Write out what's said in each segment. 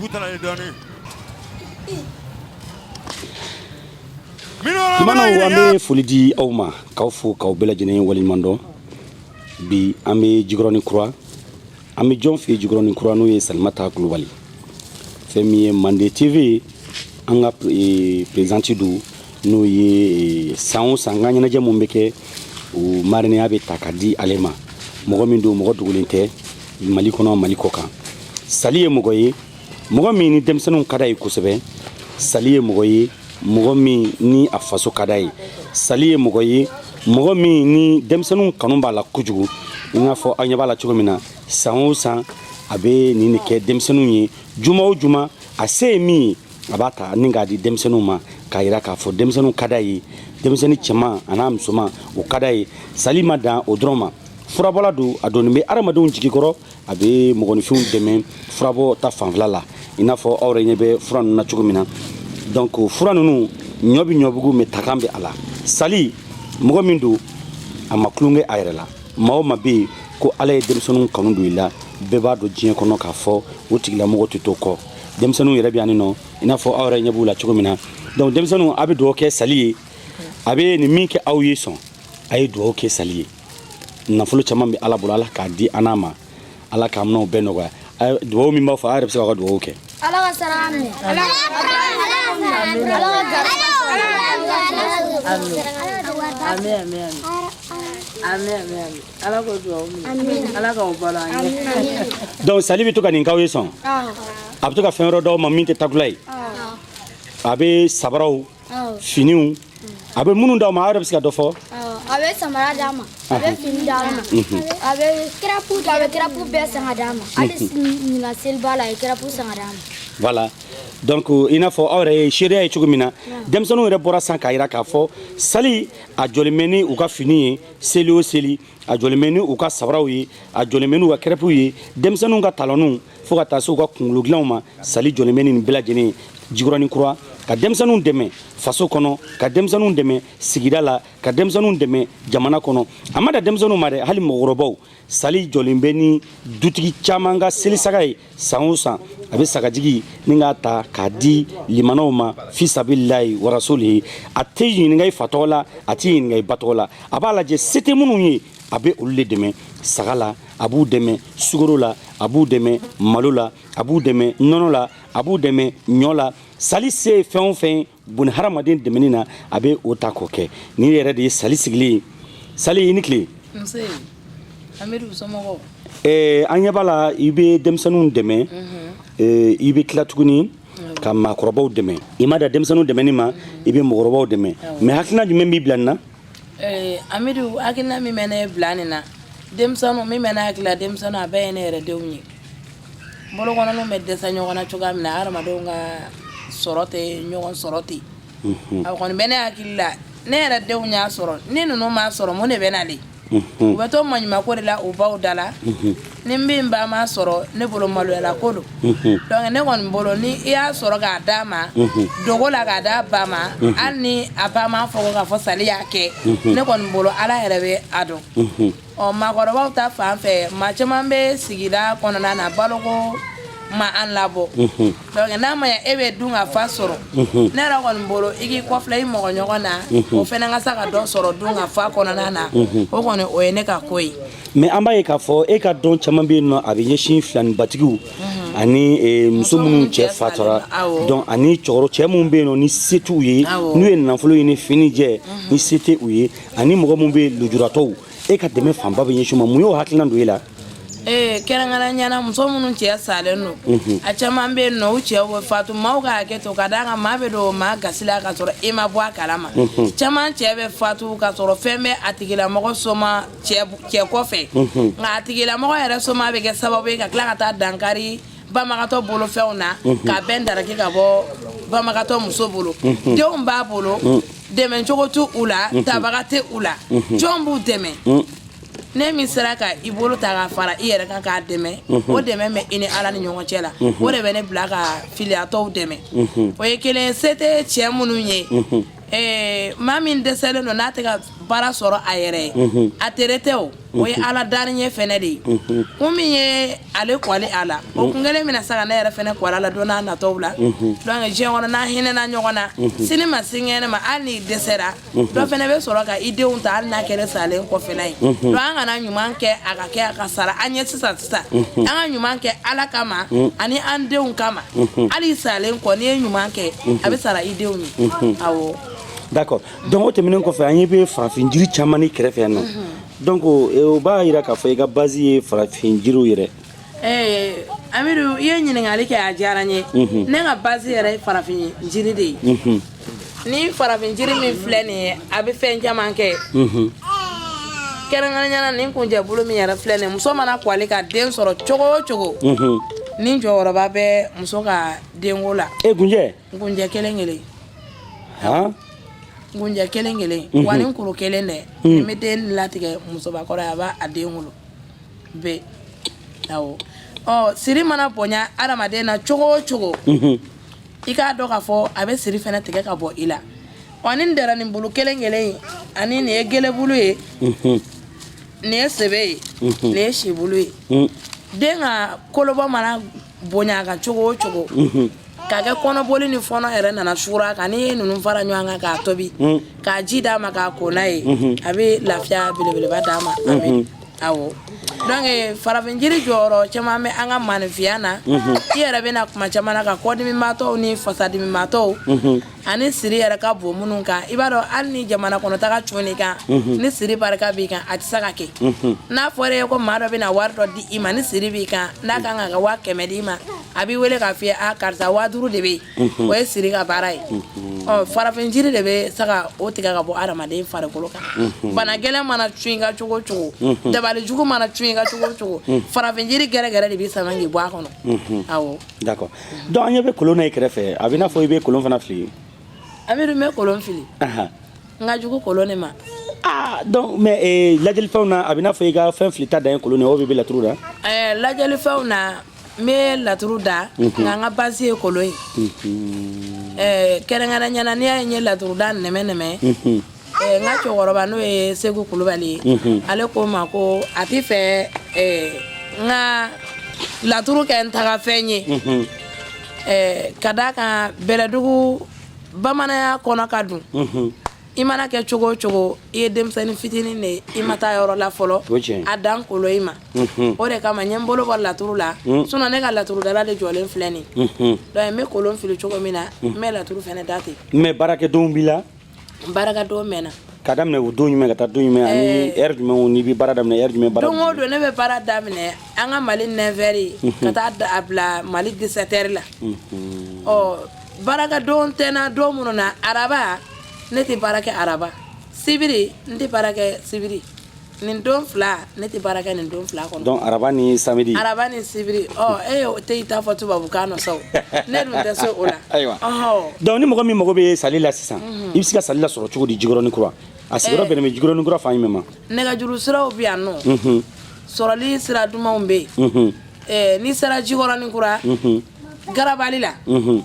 Butala ye dɔɔni. Tumanaw an bɛ foli di aw ma k'aw fo k'aw bɛɛ lajɛlen waleɲuman dɔn bi an bɛ jikɔrɔni kura an bɛ jɔn fɛ jikɔrɔni kura n'o ye salimata kulubali fɛn min ye mande tv an ka eh, prezidanti don n'o ye eh, san o san n ka ɲɛnajɛ min bɛ kɛ o marinɛya bɛ ta ka di ale ma mɔgɔ min don mɔgɔ dogolen tɛ mali kɔnɔ mali kɔ kan sali ye mɔgɔ ye mɔgɔ min ni denmisɛnninw ka d'a ye kosɛbɛ sali ye mɔgɔ ye mɔgɔ min ni a faso ka d'a ye sali ye mɔgɔ ye mɔgɔ min ni denmisɛnninw kanu b'a la kojugu i n'a fɔ aw ɲɛ b'a la cogo min na san o san a bɛ nin de kɛ denmisɛnninw ye juma o juma a se ye min ye a b'a ta ni k'a di denmisɛnninw ma k'a yira k'a fɔ denmisɛnninw ka d'a ye denmisɛnnin cɛman an'a musoman o ka d'a ye sali ma dan o dɔrɔn ma furabɔla don a donnen bɛ adamadenw jigi kɔrɔ a bɛ mɔgɔninfinw dɛmɛ furabɔ ta fanfɛla la i n'a fɔ aw yɛrɛ ɲɛ bɛ fura ninnu na cogo min na donc fura ninnu ɲɔ bɛ ɲɔbugu mɛ takan bɛ a la sali mɔgɔ min don a ma tulonkɛ a yɛrɛ la maa o maa bɛ yen ko ala ye denmisɛnninw kanu don i la bɛɛ b'a dɔn diɲɛ kɔnɔ k'a fɔ o tigilamɔgɔ tɛ to kɔ denmisɛnninw yɛrɛ bɛ yan nɔ i n'a fɔ aw yɛrɛ ɲɛ b'u la cogo min na donc denmisɛnninw a bɛ dugawu kɛ sali ye a bɛ nin min kɛ aw ye san a ye dugawu kɛ sali ye nafolo caman bɛ ala bolo ala k'a di an ma ala k'a minɛw bɛɛ nɔgɔya dugawu min b'a fɔ a yɛrɛ bɛ se ka dugawu kɛ ala ka saraka minɛ ala ka donc sali bɛ to ka nin k'aw ye san a bɛ to ka fɛn wɛrɛ d'aw ma min tɛ takula ye a bɛ sabaraw finiw a bɛ minnu d'aw ma aw yɛrɛ bɛ se ka dɔ fɔ a bɛ samara d'an ma a bɛ fini d'an ma a bɛ kɛrɛpu a bɛ kɛrɛpu bɛɛ san k'a d'an ma hali ɲinan seliba la a ye kɛrɛpu san k'a d'an ma voilà donc i n'a fɔ aw yɛrɛ ye seereya ye cogo min na denmisɛnninw yɛrɛ bɔra san k'a yira k'a fɔ sali a jɔlen bɛ ni u ka fini ye seli o seli a jɔlen bɛ ni u ka sabaraw ye a jɔlen bɛ n'u ka kɛrɛpuw ye denmisɛnninw ka talɔninw fo ka taa se u ka kungolo dilanw ma sali jɔlen bɛ nin bɛɛ lajɛlen ye jikɔrɔni kura ka denmisɛnninw dɛmɛ faso kɔnɔ ka denmisɛnninw dɛmɛ sigida la ka denmisɛnninw dɛmɛ jamana kɔnɔ a ma dan denmisɛnninw ma dɛ hali mɔgɔkɔrɔbaw sali jɔlen bɛ ni dutigi caman ka selisaga ye san o san a bɛ sagajigi ni k'a ta k'a di limanaw ma fi sabililayi wa rasulihi a tɛ ɲininka i fa tɔgɔ la a tɛ ɲininka i ba tɔgɔ la a b'a lajɛ se tɛ minnu ye a bɛ olu de dɛmɛ saga la a b'u dɛmɛ sukaro la a b'u dɛmɛ malo la a b'u dɛmɛ nɔnɔ la a b'u dɛmɛ ɲɔ la sali se ye fɛn o fɛn boni hadamaden dɛmɛni na a bɛ o ta k'o kɛ ni yɛrɛ de ye sali sigilen ye sali i ni tile an ɲɛ b'a la i bɛ denmisɛnninw dɛmɛ i bɛ tila tuguni ka maakɔrɔbaw dɛmɛ i ma dan denmisɛnninw dɛmɛni ma i bɛ mɔgɔkɔrɔbaw dɛmɛ mɛ hakilina jumɛn b'i bila nin na Ee Hamidu hakilina min bɛ ne bila nin na denmisɛnnin min bɛ n hakili la denmisɛnnin a bɛɛ ye ne yɛrɛ denw ye bolokɔninw bɛ dɛsɛ ɲɔgɔn na cogoya min na adamadenw ka sɔrɔ tɛ ɲɔgɔn sɔrɔ ten a kɔni bɛ ne hakili la ne yɛrɛ denw y'a sɔrɔ ni ninnu ma sɔrɔ ne bɛ na de u bɛ to maɲumanko de la u baw da la ni den ba ma sɔrɔ ne bolo maloyala ko don donc ne kɔni bolo ni i y'a sɔrɔ k'a d'a ma dogo la k'a d'a ba ma hali ni a ba ma fɔ ko k'a fɔ sali y'a kɛ ne kɔni bolo ala yɛrɛ bɛ a dɔn ɔ maakɔrɔbaw ta fan fɛ maa caman bɛ sigida kɔnɔna na baloko ma an labɔ donc n'a ma ɲɛ e bɛ dunkafa sɔrɔ ne yɛrɛ kɔni bolo i k'i kɔfilɛ i mɔgɔ ɲɔgɔn na o fana ka se ka dɔ sɔrɔ dunkafa kɔnɔna na o kɔni o ye ne ka ko ye mɛ an b'a ye k'a fɔ e ka don caman bɛ yen nɔ a bɛ ɲɛsin filanibatigiw mhm. ani e, muso minnu cɛ fatulen don ani cɛkɔrɔba cɛ minnu bɛ yen nɔ ni se t'u ye n'u ye nafolo ye ni fini jɛ mhm. ni se tɛ u ye ani mɔgɔ minnu bɛ lujuratɔw e ka dɛmɛ fanba bɛ ɲɛsin ma mun y'o hakilina don e la ee kɛrɛnkɛrɛnyana muso minnu cɛ salen don mhm. a caman bɛ yen nɔ u cɛw bɛ fatu maaw ka hakɛ to ka d'a kan maa bɛ don maa gasi la ka sɔrɔ e ma bɔ a kalama mhm. caman cɛ bɛ fatu ka sɔrɔ fɛn bɛ a tigilamɔgɔ soma cɛ kɔfɛ nka a tigilamɔgɔ yɛrɛ somaa bɛ kɛ sababu ye ka tila ka taa dankari banbagatɔ bolofɛnw na ka bɛn daraki ka bɔ banbagatɔ muso bolo denw b'a bolo dɛmɛcogo t'u la tabaga tɛ u la jɔn b'u dɛmɛ ni min sera ka i bolo ta ka fara i yɛrɛ kan k'a dɛmɛ o dɛmɛ bɛ i ni ala ni ɲɔgɔn cɛ la o de bɛ ne bila ka filiyatɔw dɛmɛ o ye kelen se tɛ cɛ minnu ye Ɛɛ maa min dɛsɛlen don n'a tɛ ka baara sɔrɔ a yɛrɛ ye a tere tɛ o o ye ala da ɲɛ fana de ye ko min ye ale kɔle a la o ko kelen bɛna se ka ne yɛrɛ fana kɔla la don natɔ la diɲɛ kɔnɔ n'an hinɛna ɲɔgɔn na sini ma sinikɛnɛ ma hali n'i dɛsɛra dɔ fana bɛ sɔrɔ ka i denw ta hali n'a kɛra salen kɔfɛla ye donc an kana ɲuman kɛ a ka kɛ a ka sara an ɲɛ sisan sisan an ka ɲuman kɛ ala kama ani an denw kama hali salen kɔ n'i ye ɲuman kɛ a bɛ sara i denw ye d'accord donc o tɛmɛnen kɔfɛ an ɲɛ bɛ farafin jiri caman na i kɛrɛfɛ yan nɔ donc eh, o b'a jira k'a fɔ i ka base ye farafin jiriw yɛrɛ eh, amidu i ye ɲininkali kɛ a diyara n ye mhm. ne ka base yɛrɛ ye farafin jiri de ye mhm. ni farafin jiri min filɛ nin ye a bɛ fɛn caman kɛ mhm. kɛrɛnkɛrɛnyana nin kunjɛbulu min yɛrɛ filɛ nin ye muso mana kɔli ka den sɔrɔ cogo o cogo nin jɔyɔrɔba bɛ muso ka denko la e kunjɛ nkunjɛ kelen kelen nkunjɛ kelen kelen mhm. wa nin kuru kelen dɛ mhm. nin bɛ den latigɛ musobakɔrɔ ye a b'a a den wolo bɛɛ awɔ ɔ siri mana bonya adamaden na cogo o cogo mhm. i k'a dɔn k'a fɔ a bɛ siri fana tigɛ ka bɔ i la ɔ ni dara nin bulu kelen kelen in ani nin ye gelebulu ye nin ye sebe ye nin ye sibulu ye den ka kolobɔ mana bonya a kan cogo o cogo mhm. ka kɛ kɔnɔboli ni fɔnɔ yɛrɛ nana suuru a kan n'i ye ninnu fara ɲɔgɔn kan k'a tobi mhm. k'a ji d'a ma k'a ko n'a ye mhm. a bɛ lafiya belebeleba d'a ma a bɛ awɔ donc eh, farafin jiri jɔyɔrɔ caman bɛ an ka maanifinya na i yɛrɛ bɛna kuma caman na ka kɔdimimaatɔw ni fasadimimaatɔw ani siri yɛrɛ ka bon minnu kan i b'a dɔn hali ni jamana kɔnɔ taga cun i kan ni siri barika b'i kan a tɛ se ka kɛ n'a fɔra ye ko maa dɔ bɛna wari dɔ di i ma ni siri b'i kan n'a ka kan ka waa kɛmɛ di i ma a b'i wele k'a f'i ye a karisa waa duuru de bɛ yen o ye siri ka baara ye ɔ farafin jiri de bɛ se ka o tigɛ ka bɔ hadamaden farikolo kan bana gɛlɛn mana cun i kan cogo o cogo dabali jugu mana cun i kan cogo o cogo farafin jiri gɛrɛgɛrɛ de b'i sama k'i bɔ a kɔnɔ awɔ D'accord donc an ɲɛ bɛ kolon na i kɛrɛfɛ a b'i n'a fɔ i bɛ kolon fana fili amidu n bɛ kolon fili n ka jugu kolon de ma mɛ lajɛlifɛnw na a b'i n'a fɔ i ka fɛn filita dan ye kolon ye ɔ i bɛ laturu da lajɛlifɛnw na n bɛ laturu da nka n ka base ye kolon ye kɛrɛnkɛrɛnnenya na ne ye laturuda nɛmɛ nɛmɛ N ka cɛkɔrɔba n'o ye segu kulubali ye ale ko n ma ko a t'a fɛ n ka laturu kɛ n tagafɛn ye ka da a kan bɛlɛdugu bamananya kɔnɔ ka dun i mana kɛ cogo o cogo i ye denmisɛnnin fitinin de i ma taa yɔrɔ la fɔlɔ a dan kolon in ma o de kama n ye n bolo bɔ laturu la sinon ne ka laturudala de jɔlen filɛ nin n bɛ kolon fili cogo min na n bɛ laturu fana da ten mais baarakɛdonw b'i la baarakɛdon bɛ n na k'a daminɛ o don jumɛn ka taa don jumɛn ani eh. heure jumɛn na i bɛ baara daminɛ heure jumɛn baara don o don ne bɛ baara daminɛ an ka mali 9 heures mhm. ka taa a bila mali 17 heures la mhm. ɔ baarakɛdon tɛ n na don minnu na araba ne tɛ baara kɛ araba sibiri n tɛ baara kɛ sibiri nin don fila ne tɛ baara kɛ nin don fila kɔnɔ donc araba ni samedi araba ni sibiri ɔ e y'o tɛ i ta fɔ tubabukan nɔ sa o ne dun tɛ se o la ayiwa donc ni mɔgɔ min mago bɛ sali la sisan i bɛ se ka sali la sɔrɔ cogo di jikɔrɔni kura a sigiyɔrɔ bɛnnen bɛ jikɔrɔni kura fan jumɛn ma nɛgɛjuru siraw bɛ yan nɔ sɔrɔli sira dumanw bɛ yen n'i sera jikɔrɔni kura garabali la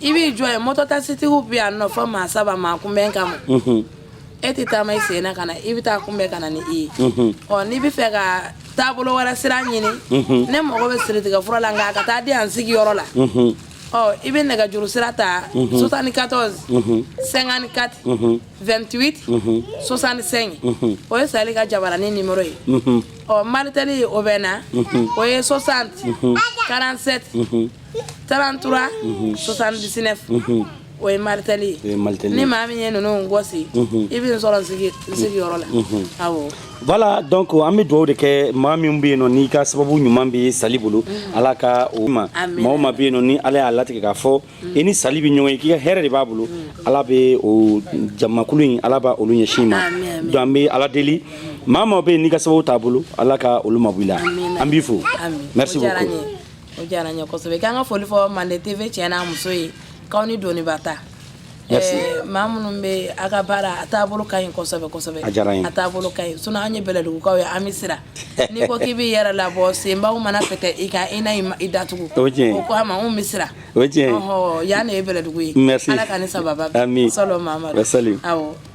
i b'i jɔ yen mɔtɔ takisitigiw bɛ yen nɔ fɔ maa saba maa kunbɛn kama e tɛ taama i sen na ka na i bɛ taa kunbɛn ka na ni i ye ɔ n'i bɛ fɛ ka taabolo wɛrɛ sira ɲini ne mago bɛ siritigɛ fura la nka a ka taa di an sigiyɔrɔ la ɔ i bɛ nɛgɛjuru sira ta sosani katɔzi sɛnkani kati vɛntiwiti sosani sɛnki o ye sali ka jabarani nimero ye ɔ malitɛli o bɛ na o ye sosanti karanti sɛti 33 79 o ye malitɛli ye ni maa min ye ninnu gɔsi i bɛ sɔrɔ n sigiyɔrɔ la awɔ voilà donc an bɛ dugawu de kɛ maa min bɛ yen nɔ n'i ka sababu ɲuman bɛ sali bolo mm. ala ka o ma maa o maa bɛ yen nɔ ni ala y'a latigɛ k'a fɔ mm. i ni sali bɛ ɲɔgɔn ye k'i ka hɛrɛ de b'a bolo mm. ala bɛ o jamakulu in ala b'olu ɲɛsin i ma donc an bɛ ala deli maa o maa bɛ yen n'i ka sababu t'a bolo ala ka olu mabɔ i la an b'i fo merci beaucoup O diyara n ye kosɛbɛ k'an ka foli fɔ mande TV cɛ n'a muso ye k'aw ni doniba ta maa minnu bɛ aw ka baara a taabolo ka ɲi kosɛbɛ kosɛbɛ a taabolo ka ɲi sinon an ye bɛlɛdugukaw ye an bɛ siran nin ko k'i bɛ yɛrɛ labɔ subaw mana fɛ kɛ i ka i na i datugu o kama anw bɛ siran o yan ne ye bɛlɛdugu ye ala ka ni saba sa